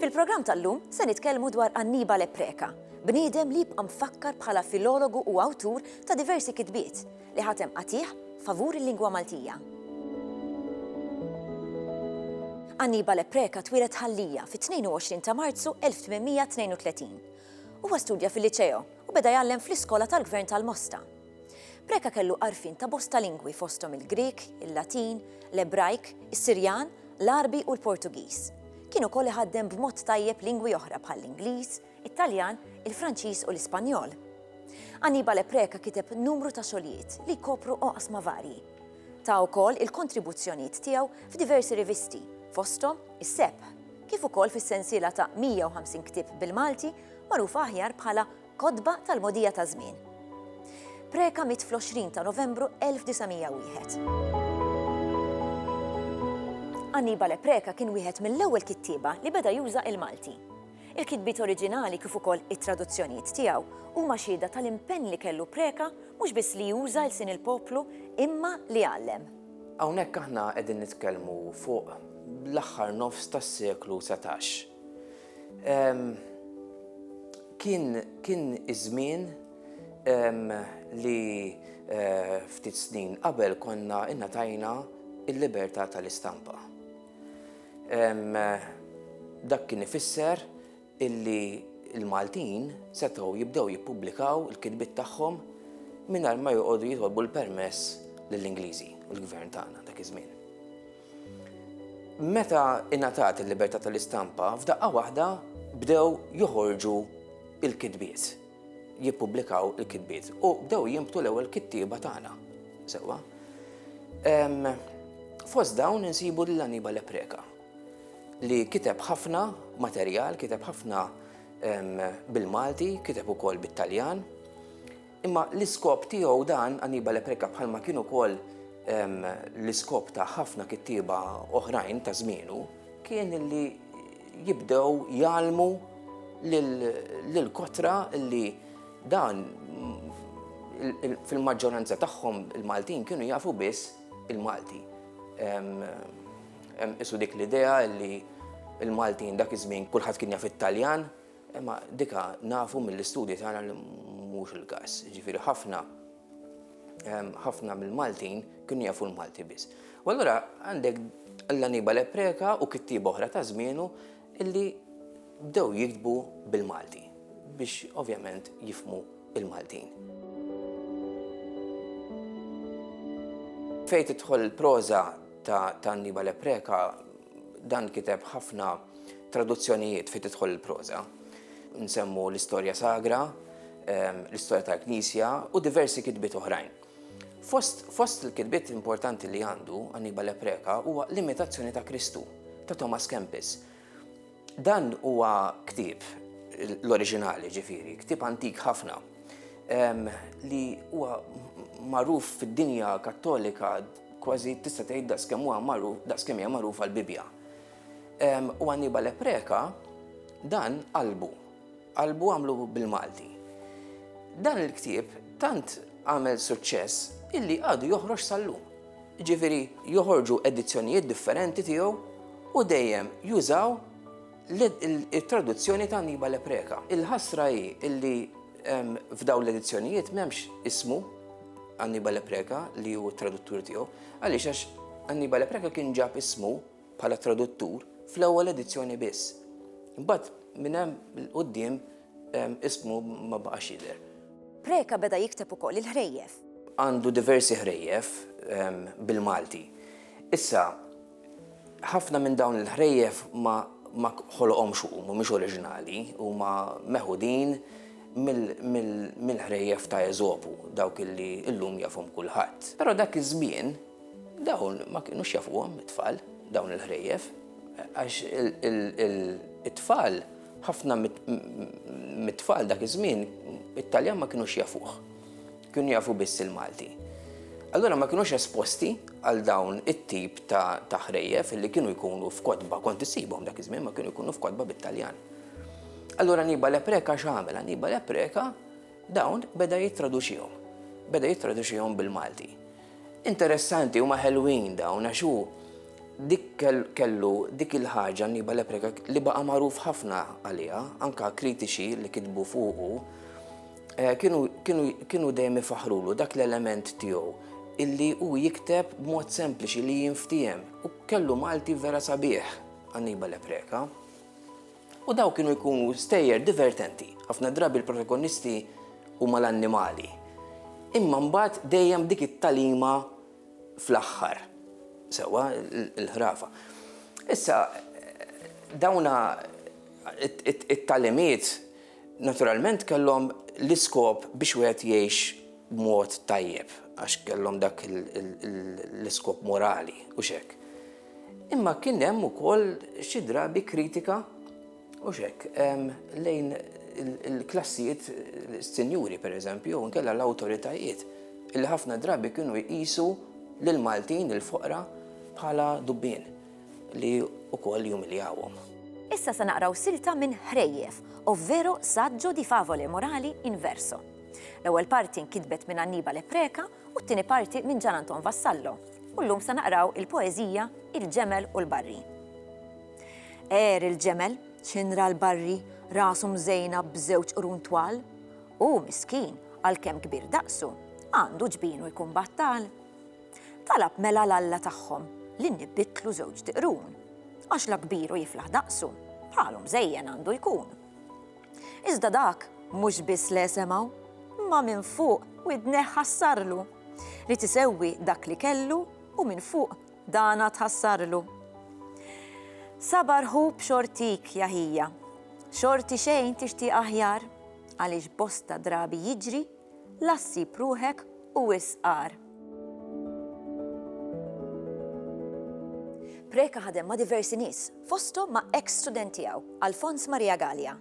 Fil-programm tal-lum se nitkellmu dwar Annibal Epreka, bniedem li jibqa' mfakkar bħala filologu u awtur ta' diversi kitbiet li ħatem qatih favur il-lingwa Maltija. Annibal Epreka twilet ħallija fit-22 ta' Marzu 1832. Huwa studja fil-Liċeo u beda jgħallem fl-iskola tal-Gvern tal-Mosta. Preca kellu għarfien ta' bosta lingwi fosthom il-Grieg, il-Latin, l-Ebrajk, is-Sirjan, l-Għarbi u l-Portugiż. Kien ukoll iħaddem b'mod tajjeb lingwi oħra bħall-Ingliż, it-Taljan, il-Franċiż u l-Ispanjol. Annibale Preca kiteb numru ta' xogħlijiet li jkopru oqsma varji. Ta wkoll il-kontribuzzjonijiet tiegħu f'diversi rivisti, fosthom is-Sebħ, kif ukoll fis-sensiela ta' 150 ktieb bil-Malti magħrufa aħjar bħala Kotba tal-mogħdija taż-żmien. Preca miet fl-20 ta' Novembru 1901. Annibale Preca kien wieħed mill-ewwel kittieba li beda juża il-Malti. Il-kitbiet oriġinali kif ukoll it-traduzzjonijiet tiegħu huma xhieda tal-impenn li kellu Preca mhux biss li juża lsien il-poplu imma li jgħallem. Hawnhekk aħna qegħdin nitkellmu fuq l-aħħar nofs tas-seklu setax. Kien kien iż-żmien li eh, ftit snin qabel konna innatajna il-libertà tal-istampa. Dak kien ifisser illi il-Maltin setgħu jibdew jippubblikaw il-kitbiet tagħhom mingħajr ma joqogħdu jitolbu l-permess lill-Ingliżi u l-gvern tagħna dak iż-żmien. Meta ingħatat il-libertà tal-istampa, f'daqqa waħda bdew joħorġu l-kitbiet, jippubblikaw il-kitbiet u bdew jinbtu l-ewwel kittieba tagħna. Sewwa. Fost dawn insibu lil Aniba Lepreka li kiteb ħafna materjal, kiteb ħafna bil-Malti, kiteb ukoll bit-Taljan. Imma l-iskop tiegħu dan, Annibale Preca, bħalma kien ukoll l-iskop ta' ħafna kittieba oħrajn ta' żmienu, kien li jibdew jgħalmu lill-kotra li dan fil-maġġoranza tagħhom il-Maltin kienu jafu biss il-Malti. Isu dik l-idea li il-Maltin dak iż-żmien kulħadd kien jaf it-Taljan, Imma dika nafu mill-istudji tagħna li mhux il-każ. Ġifieri ħafna ħafna mill-Maltin kienu jafu l-Malti biss. U allura għandek l-Aniba Lepreka u kittib oħra ta' żmienu illi bdew jiktbu bil-Malti biex ovvjament jifmu il-Maltin. Fejn tidħol il-proża ta' Aniba Lepreka Dan kiteb ħafna traduzzjonijiet fi tidħol il-proża. Nsemmu l-istorja sagra, ehm, l-istorja tal-Knisja u diversi kitbiet oħrajn. Fost, fost il-kitbiet importanti li għandu Annibale Preca huwa l-imitazzjoni ta' Kristu ta' Thomas Kempis Dan huwa ktieb, l-oriġinali ġifieri, ktieb antik ħafna li huwa magħruf fid-dinja Kattolika kważi tista' tgħid daqs kemm huwa magħruf daqs kemm hija magħrufa l-Bibbja. U Annibale Preca dan qalbu Qalbu għamlu bil-Malti. Dan il-ktieb tant għamel suċċess illi għadu joħroġ sal-lum. Ġifieri joħorġu edizzjonijiet differenti tiegħu u dejjem jużaw it-traduzzjoni ta' Annibale Preca. Il-ħasra hi illi f'dawn l-edizzjonijiet m'hemmx ismu Annibale Preca li hu t-traduttur tiegħu għaliex għax Annibale Preca kien ġab ismu bħala traduttur fl-ewwel edizzjoni biss. Imbagħad minn hemm 'l quddiem ismu ma baqax jidher. Preca beda jikteb ukoll il-ħrejjef. Għandu diversi ħrejjef bil-Malti. Issa, ħafna minn dawn il-ħrejjef ma ma ħoloqhomx hu, mhumiex oriġinali, huma meħudin mill-ħrejjef ta' Eżopu, dawk illi illum jafhom kulħadd. Però dak iż-żmien Dawn ma kinux jafuhom it-tfal, dawn il-ħrejjef, għax it-tfal, ħafna mit-tfal dak iż-żmien, it-Taljan ma kinux jafuh. Kienu jafu biss il-Malti. Allura ma kinux esposti għal dawn it-tip ta' ħrejjef li kienu jkunu f'kotba, kont issibhom dak iż-żmien ma kienu jkunu f'kotba bit-Taljan. Allura Niba Lepreka x'għamel? Niba Lepreka dawn beda jittraduċihom. Beda jittraduċihom bil-Malti. Interessanti, huma ħelwin dawn għax hu dik kellu dik il-ħaġa Annibal Lepreka li baqa' magħruf ħafna għaliha, anka kritiċi li kitbu fuqu eh, kienu dejjem ifaħrulu dak l-element tiegħu illi hu jikteb b'mod sempliċi li jinftiehem u kellu Malti vera sabiħ Annibal Lepreka. U dawk kienu jkunu stejjer divertenti. Ħafna drabi l-protagonisti huma l-annimali. Imma mbagħad dejjem dik it-tagħlima fl-aħħar. Sewwa l-ħrafa. Issa dawna it-tagħlimiet naturalment kellhom l-iskop biex wieħed jgħix b'mod tajjeb għax kellhom dak l-iskop morali u x'hekk. Imma kien hemm ukoll xi drabi kritika, mhux hekk, lejn il-klassijiet sinjuri pereżempju, u nkella l-awtoritajiet, illi ħafna drabi kienu jqisu lil Maltin, il-foqra, bħala dubbien li wkoll jumiljawhom. Issa se naqraw silta minn Ħrejjef, Ovvero saggio di favole morali in verso. L-ewwel parti nkitbet minn Annibale Preca u t-tieni parti minn Gian Anton Vassallo, u llum se naqraw il-poeżija Il-ġemel u l-barri. Għer il-ġemel, ċinra l-barri, rasu mżejna b'żewġ qrun twal. Hu miskin, għalkemm kbir daqsu, għandu ġbinu jkun battal. Talab mela l-Alla tagħhom li nnibbidlu żewġt qrun, għax la kbiru jiflaħ daqsu, bħalu mżejjen għandu jkun. Iżda dak mhux biss le semgħu, imma minn fuq widnejh ħassarlu. Ried isewwi dak li kellu u minn fuq dana tħassarlu. Sabar ħu b'xortik, ja ħija. Xorti xejn tixtieq aħjar, għaliex bosta drabi jiġri La ssib ruħek u wisq agħar. Preca ħadem ma' diversi nies, fosthom ma' eks student tiegħu, Alfons Maria Galea.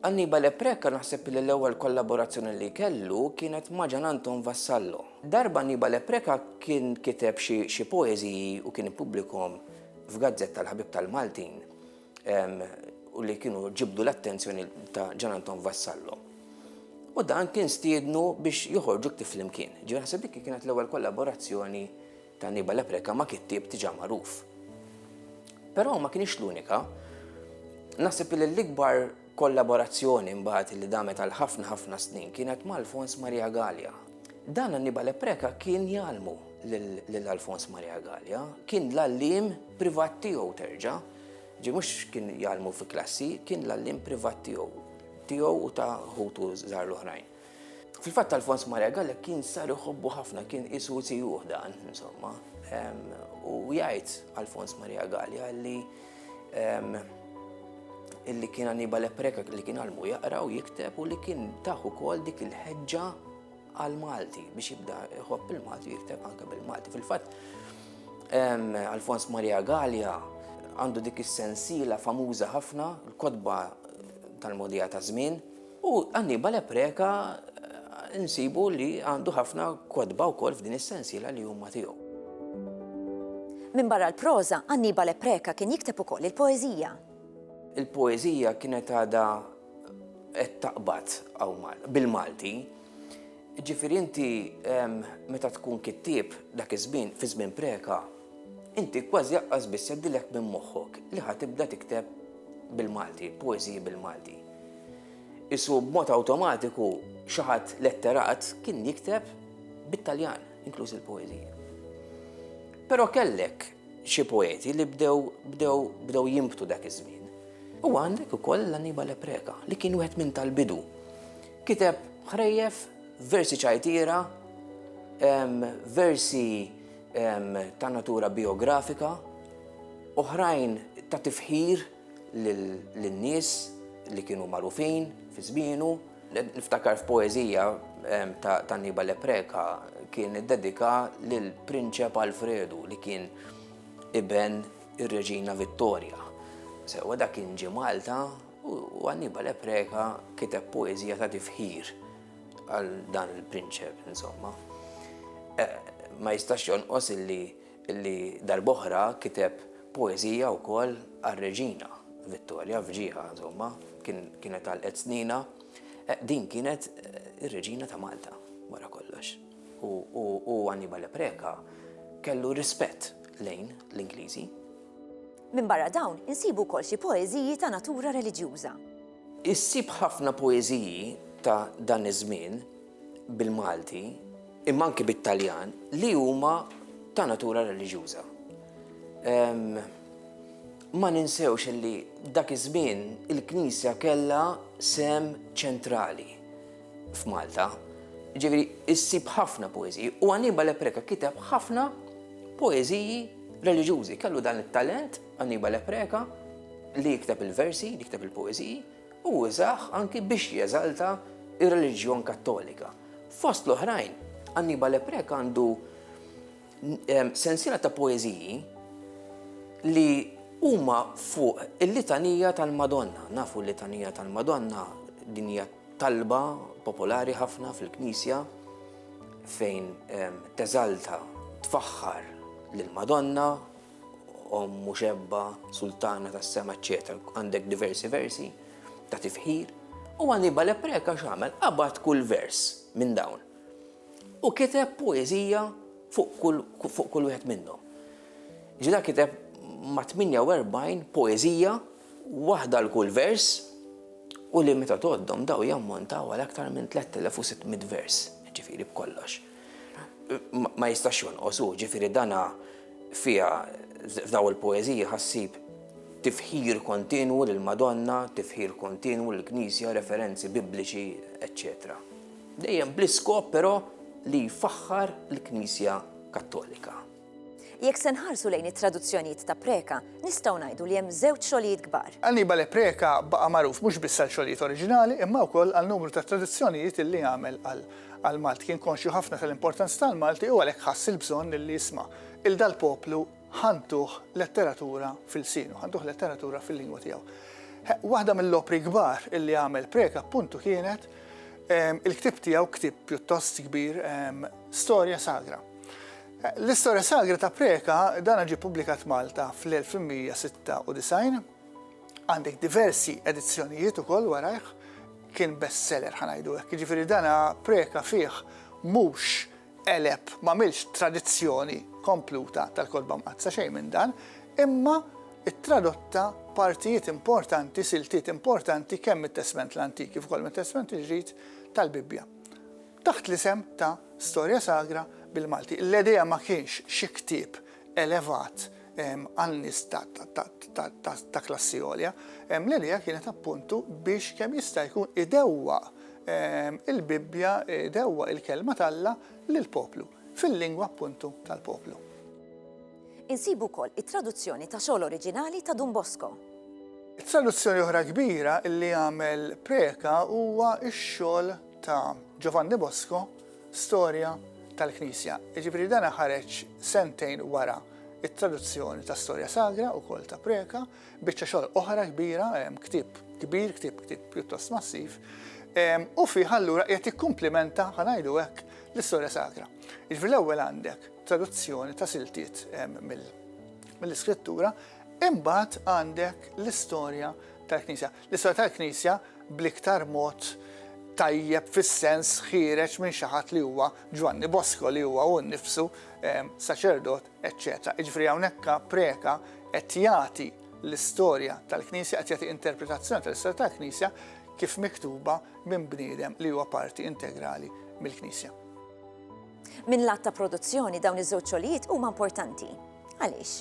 Annibale Preca naħseb li l-ewwel kollaborazzjoni li kellu kienet ma' Gian Anton Vassallo. Darba Annibale Preca kien kiteb xi poeżiji u kien ippubblikhom f'gazzetta l-Ħabib tal-Maltin. u li kienu ġibdu l-attenzjoni ta' Ġan Anton Vassallo. U dan kien stiednu biex joħorġu ktif flimkien. Ġifieri naħseb dik kienet l-ewwel kollaborazzjoni ta' Niba Lepreka ma' kittib tiġa magħruf. Però ma kienx l-unika. Naħseb li l-ikbar Kollaborazzjoni mbagħad li damet għal ħafna ħafna snin kienet ma' Alfons Maria Galea. Dan Annibale Preca kien jgħallmu lil Alfons Maria Galea, kien l-għalliem privat tiegħu terġa', ġi mhux kien jgħallmu fi klassi, kien l-għalliem privat tiegħu, tiegħu u ta' ħutu żgħar l-oħrajn. Fil-fatt Alfons Maria Gallek kien sar iħobbu ħafna, kien isu tijuh dan, insomma. U jgħid Alfons Maria Gallia li illi kien għaniba lepreka li kien għalmu jaqra u jikteb u li kien taħu kol dik il-ħedġa għal-Malti biex jibda jħobb il-Malti jikteb anke bil-Malti. Fil-fatt, Alfons Maria Gallia għandu dik is-sensiela famuża ħafna, l-kodba tal-modija ta' żmien, U Annibale Preca nsibu li għandu ħafna kotba wkoll f'din is-sensiela li huma tiegħu. Minbarra l-proża, Annibale Preca kien jikteb ukoll il-poeżija. Il-poeżija kienet għadha qed taqbad bil-Malti. Jiġifieri inti meta tkun kittieb dak iż-żmien, fi żmien Preca, inti kważi aqqas biss jgħaddilek minn moħħok li ħa tibda tikteb bil-Malti, poeżiji bil-Malti. Qisu b'mod awtomatiku xi ħadd letterat kien jikteb bit-Taljan, inkluż il-poeżiji. Però kellek xi poeti li bdew bdew bdew jinbtu dak iż-żmien. U għandek ukoll l-Annibal Lepreka li kien wieħed minn tal-bidu. Kiteb ħrejjef, versi ċajtiera, versi ta' natura bijografika, oħrajn ta' tifħir, lin-nies li kienu magħrufin fi żmienu. Niftakar f'poeżija ta' Niba Lepreka kien iddedika lil Prinċep Alfredu li kien iben ir-Reġina Vittoria. Sewa dak kien ġi Malta u Anniba Lepreka kiteb poeżija ta' tifħir għal dan il-prinċep, insomma. Eh, ma jistax jonqos illi li darb'oħra kiteb poeżija wkoll għar-Reġina Vittorja f'ġieħha, insomma, kienet għalqet snina. Din kienet ir-Reġina ta' Malta, wara kollox. U Annibale Preca kellu rispett lejn l-Ingliżi. Minbarra dawn, insibu wkoll xi poeżiji ta' natura reliġjuża. Issib ħafna poeżiji ta' dan iż-żmien bil-Malti. imma anki bit-Taljan, li huma ta' natura reliġjuża. Ma ninsewx li dak iż-żmien il-Knisja kellha sehem ċentrali f'Malta. Ġifieri issib ħafna poeżiji u Annibal Lepreka kiteb ħafna poeżiji reliġjużi. Kellu dan it-talent Annibal Lepreka li jikteb il-versi, li jikteb il-poeżiji. u użah anki biex jeżalta r-reliġjon Kattolika. Fost l-oħrajn, Annibale Preck għandu sensiela ta' poeżiji li huma fuq il-Litanija tal-Madonna. Nafu l-Litanija tal-Madonna din hija talba popolari ħafna fil-Knisja fejn teżalta, tfaħħar lill-Madonna, Omm muxebba, sultana tas-sema, eċċetera Għandek diversi versi ta' tifħir. U Annibal Lepreka x'għamel? Qabad kull vers minn dawn u kiteb poeżija fuq kull wieħed minnhom. Ġida kiteb ma' 48 poeżija waħda l kull vers u li meta toddhom daw jammontaw għal aktar minn 3600 vers, ġifieri b'kollox. ma jistax jonqos hu, ġifieri dana fiha f'daw il-poeżiji ħa ssib tifħir kontinwu lill-Madonna, tifħir kontinwu lill-Knisja, referenzi Bibliċi, eċċetera. Dejjem bl-iskop però li jfaħħar il-Knisja Kattolika. Jekk se nħarsu lejn it-traduzzjonijiet ta' Preca, nistgħu ngħidu li hemm żewġ xogħlijiet kbar. Annibale Preca baqa' magħruf mhux biss għal xogħlijiet oriġinali imma wkoll għal numru ta' traduzzjonijiet illi għamel għall-Malti. Kien konxju ħafna tal-importanza tal-Malti u għalhekk ħass il-bżonn illi jisma' 'l dal-poplu ħa ntuh letteratura f'ilsienu, ħa ntuh letteratura fil-lingwa tiegħu. Waħda mill-opri kbar illi għamel Preca appuntu kienet il-ktieb tiegħu, ktieb pjuttost kbir, Storia Sagra. L-Istoria Sagra ta' Preca, dan ġie ppubblikat Malta fl-1896. Għandek diversi edizzjonijiet ukoll warajh. Kien best seller ħa ngħidu hekk. Jiġifieri dan Preca fih mhux qeleb, m'għamilx tradizzjoni kompluta tal-Kotba Mqaddsa xejn minn dan, imma ttradotta partijiet importanti, siltiet importanti kemm mit-Testment l-Antik kif ukoll mit-Testment il-Ġdid tal-Bibbja. taħt l-isem ta' Storia Sagra bil-Malti. L-idea ma kienx xi ktieb elevat għal nies ta' klassi għolja, l-idea kienet appuntu biex kemm jista' jkun idewwaq il-Bibbja, idewwaq il-Kelma t'Alla lill-poplu, fil-lingwa appuntu tal-poplu. Insibu wkoll it-traduzzjoni ta' xogħol oriġinali ta' Dun Bosco. Traduzzjoni oħra kbira li għamel Preca huwa x-xogħol ta' Giovanni Bosco, Storja tal-Knisja. Jiġifieri dan ħareġ sentejn wara it-traduzzjoni ta' Storja Sagra wkoll ta' Preca, biċċa xogħol oħra kbira, ktieb kbir, ktieb ktieb pjuttost massiv, u fih allura qiegħed jikkumplimenta ħa ngħidu hekk l-Istorja Sagra. Jiġifieri l-ewwel għandek traduzzjoni ta' siltiet mill-Iskrittura, imbagħad għandek l-istorja tal-Knisja. L-istorja tal-Knisja bl-iktar mod tajjeb fis-sens ħiereġ minn xi ħadd li huwa Ġwanni Bosco li huwa hu nnifsu saċerdot eċċetera. Jiġifieri hawnhekk Preca qed jagħti l-istorja tal-Knisja, qed jagħti interpretazzjoni tal-istorja tal-Knisja kif miktuba minn bniedem li huwa parti integrali mill-Knisja. Minn lat ta' produzzjoni dawn iż-żewġ xogħlijiet huma importanti. Għaliex?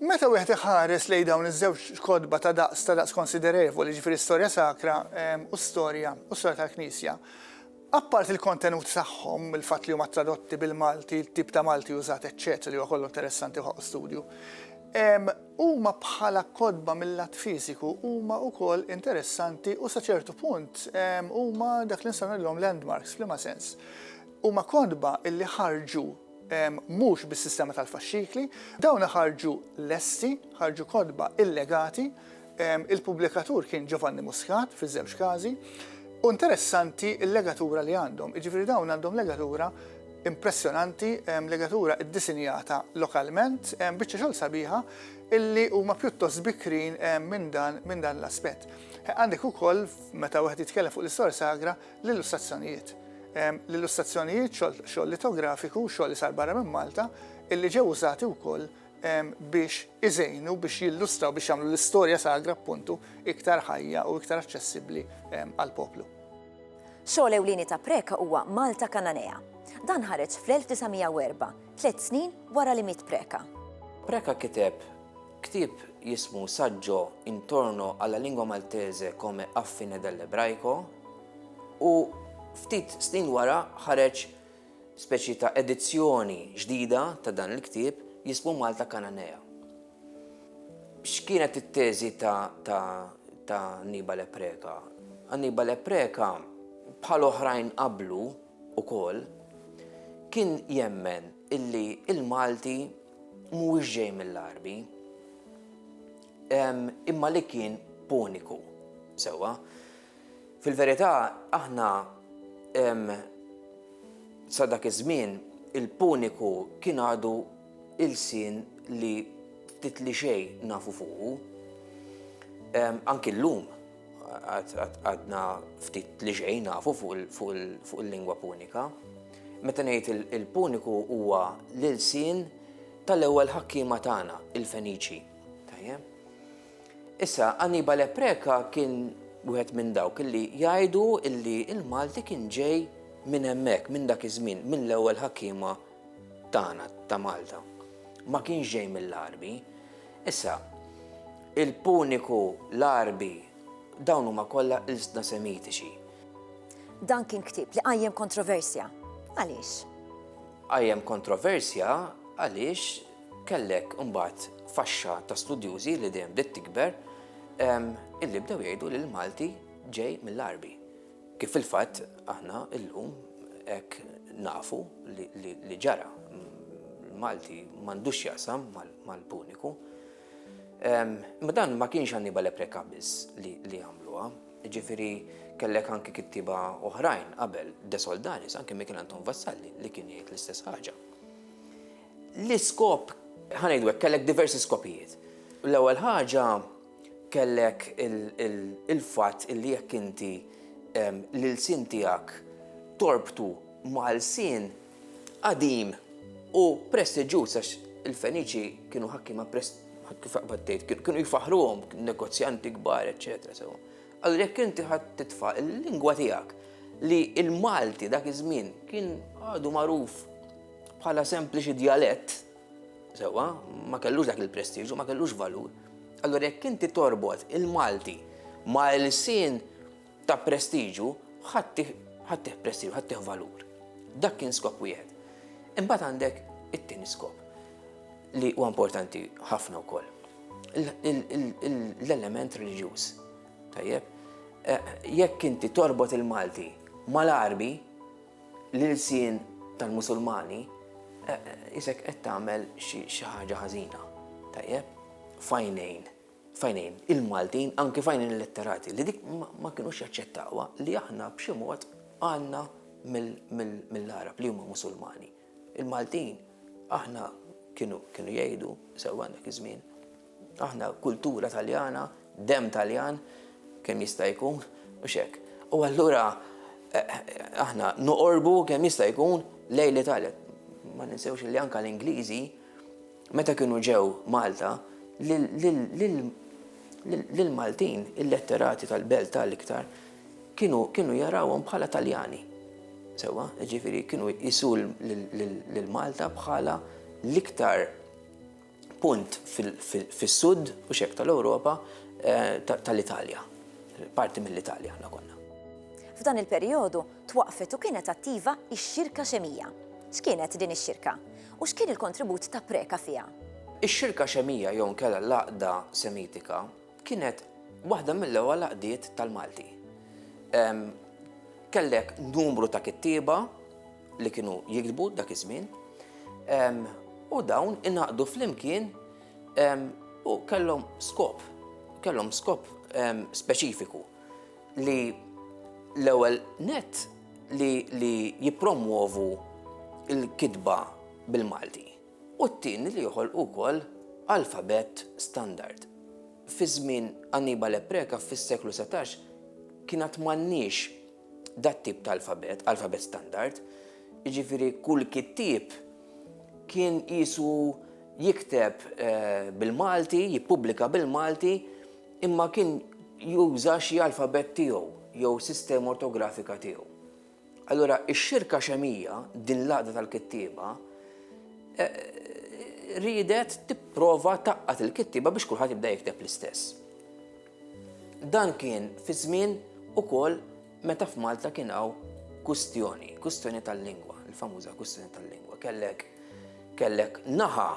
Meta wieħed iħares lejn dawn iż-żewġ kotba ta' daqs ta' daqs konsiderevoli, jiġifieri Storja Sacra u Storja u Storja tal-Knisja, apparti l-kontenut tagħhom, il-fatt li huma tradotti bil-Malti, it-tip ta' Malti użat eċċetera li huwa kollu interessanti u ħaqu studju, huma bħala kotba mil-lat fiżiku huma wkoll interessanti u sa ċertu punt huma dak li nistgħu ngħidulhom landmarks, f'liema sens? Huma kotba li ħarġu. mhux bis-sistema tal-faxxikli, dawn iħarġu lesti, ħarġu kotba illegati, il-pubblikatur kien Giovanni Muscat fiż-żewġ każi, u interessanti l-legatura li għandhom, jiġifieri dawn għandhom legatura impressjonanti, legatura ddisinjata lokalment, biċċa xogħol sabiħa illi huma pjuttost bikrin minn dan l-aspett. Għandek ukoll, meta wieħed jitkellem fuq l-istorja sagra, L-illustrazzjonijiet L-illustrazzjonijiet, xogħol litografiku, xogħol li sar barra minn Malta, illi ġew użati wkoll biex iżejnu, biex jillustraw, biex jagħmlu l-istorja sagra appuntu iktar ħajja u iktar aċċessibbli għall-poplu. Xogħol ewlieni ta' Preca huwa Malta Kananea. Dan ħareġ fl-1904, tliet snin wara li miet Preca. Preca kiteb Ktieb jismu Saggio intorno alla lingua maltese come affine dell'ebraico u ftit snin wara ħareġ speċi ta' edizzjoni ġdida ta' dan il-ktieb jismu Malta Kananea. X'kienet it-teżi ta', ta, ta' Annibal Epreka? Annibal Epreka bħal oħrajn qablu ukoll kien jemmen illi il-Malti mhuwiex ġej mill-Għarbi, imma li kien Puniku. Sewwa, fil-verità aħna sa dak iż-żmien il-Puniku kien għadu ilsien li ftit li xejn nafu fuqu. Anki llum Għadna ftit li xejn nafu fuq il-lingwa punika. Meta ngħid il-puniku huwa l-ilsien tal-ewwel ħakkiema tagħna, il-Feniċi. Tajjeb? Issa, Anniba Lepreka kien wieħed minn dawk illi jgħidu illi il-Malti kien ġej minn hemmhekk, minn dak iż-żmien, minn l-ewwel ħakkiema tagħna ta' Malta. Ma kienx ġej mill-Għarbi. Issa, il-Puniku, l-Għarbi, dawn huma kollha ilsna Semitiċi. Dan kien ktieb li qajjem kontroversja. Għaliex? Qajjem kontroversja għaliex kellek imbagħad faxxa ta' studjużi li dejjem bdiet tikber illi bdew jgħidu li l-Malti ġej mill-Għarbi. Kif fil-fatt aħna llum hekk nafu li ġara. Malti m'għandux x'jaqsam mal-Puniku. Imma dan ma kienx Annibal Epreca biss li għamluha. Jiġifieri kellek anki kittieba oħrajn qabel, De Soldanis, anki Michel Anton Vassalli li kien jgħid l-istess ħaġa. L-iskop, ħa ngħidu hekk, kellek diversi skopijiet. L-ewwel ħaġa Kellek il-fatt li jekk inti l-ilsien tiegħek torbtu ma' lsien qadim u prestiġjuż għax il-Feniċi kienu ħakkiema kif taqbad tgħid, kienu jfaħħruhom, negozjanti kbar, eċċetera sewwa. Allura jekk inti ħadd titfa' il-lingwa tiegħek li l-Malti dak iż-żmien kien għadu magħruf bħala sempliċi djalett, Sewwa, ma kellux dak il-prestiġu, ma kellux valur. Allura jekk inti torbot il-Malti ma' ilsien ta' prestiġu, ħattih prestiġu, ħattih valur. Dak kien skop wieħed. Imbagħad għandek it-tieni skop li huwa importanti ħafna wkoll. L-element reliġjuż. Tajjeb, eh, jekk inti torbot il-Malti mal-Arbi, l-ilsien tal-Musulmani, qisek qed tagħmel xi ħaġa ħażina, tajjeb, f'għajnejn, f'għajnejn il-Maltin, anki f'għajnejn il-letterati, li dik ma kinux jaċċettawha li aħna b'xi mod għandna mill-Għarab li huma Musulmani. Il-Maltin aħna kienu jgħidu, sewwa dak iż-żmien, Aħna kultura Taljana, demm Taljan kemm jista' jkun, mhux hekk? U allura aħna noqorbu kemm jista' jkun lejn l-Italja. Ma ninsewx li anka l-Ingliżi meta kienu ġew Malta lil Maltin, il-letterati tal-belt tal-iktar, kienu jarawhom bħala Taljani. Sewa, ġifieri kienu jisul lil Malta bħala l-iktar punt fis-sud u x'hekk tal-Ewropa tal-Italja, parti mill-Italja aħna konna. F'dan il-perijodu twaqqfet u kienet attiva x-Xirka Xemija. X'kienet din ix-xirka? U x'kien il-kontribut ta' Preca fiha? Ix-Xirka Xemija jew inkella l-Għaqda Semitika kienet waħda mill-ewwel għaqdiet tal-Malti. Kellek numru ta' kittieba, li kienu jiktbu dak iż-żmien u dawn inaqdu flimkien u kellhom skop, kellhom skop speċifiku li l-ewwel net li, li jippromwovu il-kitba bil-Malti u t-tieni li joħolqu wkoll alfabet standard. Fi żmien Annibal Epreka fis-seklu 17 kienet m'għandniex dat-tip ta' alfabet, alfabet standard, jiġifieri kull kittieb kien qisu jikteb bil-Malti, jippubblika bil-Malti, imma kien juża xi alfabet tiegħu jew sistema ortografika tiegħu. Allura x-Xirka Xemija, din l-għaqda tal-kittieba, riedet tipprova tgħaqqad il-kittieba biex kulħadd jibda jikteb l-istess. Dan kien fi żmien ukoll meta f'Malta kien hawn kwistjoni, kwistjoni tal-lingwa, il-famuża kwistjoni tal-lingwa. Kellek kellek naħa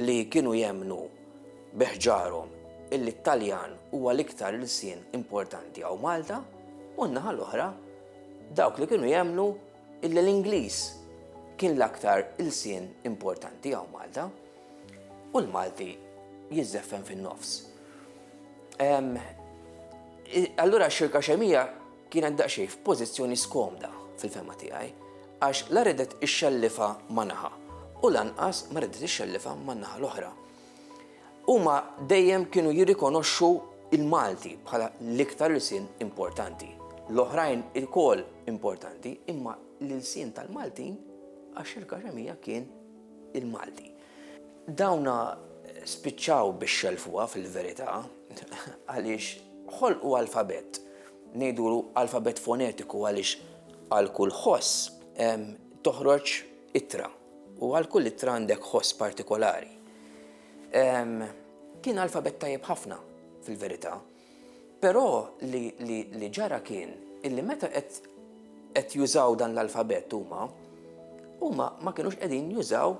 li kienu jemnu beħġarhom illi t-Taljan huwa l-iktar ilsien importanti għaw Malta u n-naħa l-oħra dawk li kienu jemnu Illa l-Ingliż kien l-aktar ilsien importanti hawn Malta u l-Malti jiżżeffen fin-nofs. Allura x-xirka xemija kienet daqsxejn f'pożizzjoni skomda fil-fema tiegħi għax la redet ixxellifa ma' naħa u lanqas ma redet ixxellifa man-naħa l-oħra. Huma dejjem kienu jirrikonoxxu l-Malti bħala l-iktar ilsien importanti. L-oħrajn ilkoll importanti, imma l-ilsien tal-Maltin għax il-kaxemija kien il-Malti. Dawna spiċċaw biex xelfuha fil-verità għaliex ħolqu alfabett, ngħidulu alfabett fonetiku għaliex għal kull ħoss toħroġ ittra. U għal kull ittra għandek ħoss partikolari. Kien alfabett tajjeb ħafna, fil-verità. Però li ġara kien illi meta qed jużaw dan l-alfabett huma, huma ma kinux qegħdin jużaw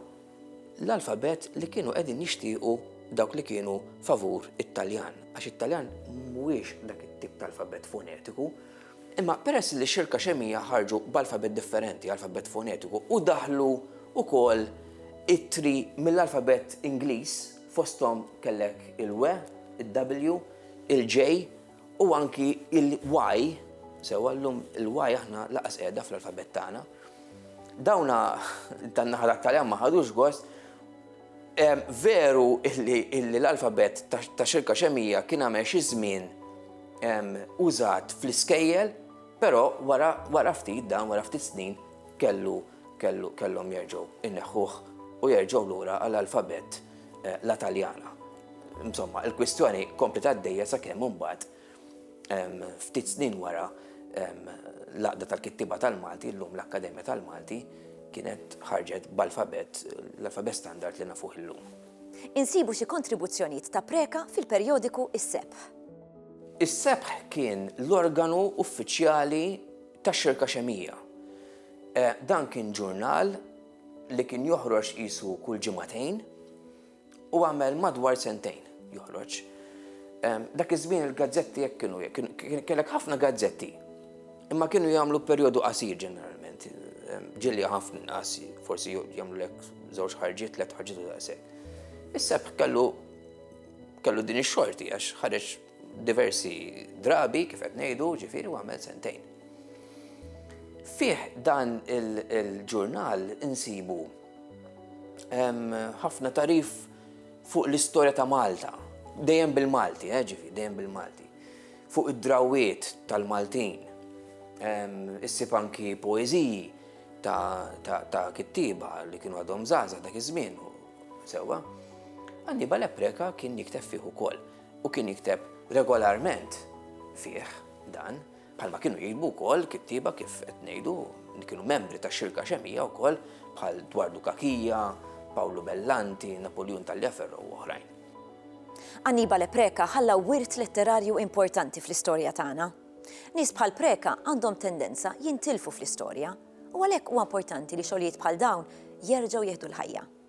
l-alfabett li kienu qegħdin jixtiequ dawk li kienu favur it-Taljan. Għax it-Taljan mhuwiex dak it-tip ta' alfabett fonetiku, Imma peress li x-xirka Xemija ħarġu b'alfabett differenti, alfabett fonetiku, u daħlu wkoll ittri mill-alfabett Ingliż, fosthom kellek il-we, id-w, il-j, u anki il-y, sewwa llum il-y aħna lanqas qiegħda fl-alfabett tagħna, dawna tan-naħa tat-Taljan ma ħadux gost, Veru illi l-alfabett ta' Xirka Xemija kien għamel xi żmien użat fl-iskejjel, però wara ftit dan wara ftit snin kellu kellhom jerġgħu jneħħuh u jerġgħu lura għal alfabett la Taljana. Insomma, il-kwistjoni kompliet għaddejja sakemm imbagħad Ftit snin wara l-Għaqda tal-Kittieba tal-Malti, llum l-Akkademja tal-Malti, kienet ħarġet b'alfabett, l-alfabett standard li nafuh illum. Insibu xi kontribuzzjonijiet ta' Preca fil-perjodiku Is-Sebħ. Is-Sebħ kien l-organu uffiċjali tax-Xirka Xemija. Dan kien ġurnal li kien joħroġ qisu kull ġimagħtejn. u għamel madwar sentejn joħroġ. Dak iż-żmien il-gazzetti jekk kienu kellek ħafna gazzetti, imma kienu jagħmlu perjodu qasir ġeneralment. Ġilli ħafna inqas, forsi jagħmlu lek żewġ ħarġiet, tliet ħarġiet u daqshekk. Is-seb kellu kellu din ix-xorti għax ħareġ diversi drabi kif qed ngħidu, ġifieri u għamel sentejn. Fih dan il-ġurnal insibu ħafna tarif fuq l-istorja ta' Malta, dejjem bil-Malti, eh, ġifi, dejjem bil-Malti, fuq id-drawiet tal-Maltin, issib anki poeziji ta' kittiba li kienu għadhom zaza dak iż-żmien, sewa. Annibal Lepreka kien jikteb fih ukoll u kien jikteb regolarment fih dan. Bħalma kienu jgħibu wkoll kittieba kif qed ngħidu li kienu membri tax-Xirka Xemija wkoll bħal Dwardu Cachia, Pawlu Bellanti, Napoljun Tagliaferro u oħrajn. Annibale Preca ħalla wirt letterarju importanti fl-istorja tagħna. Nies bħal Preca għandhom tendenza jintilfu fl-istorja u għalhekk huwa importanti li xogħlijiet bħal dawn jerġgħu jieħdu l-ħajja.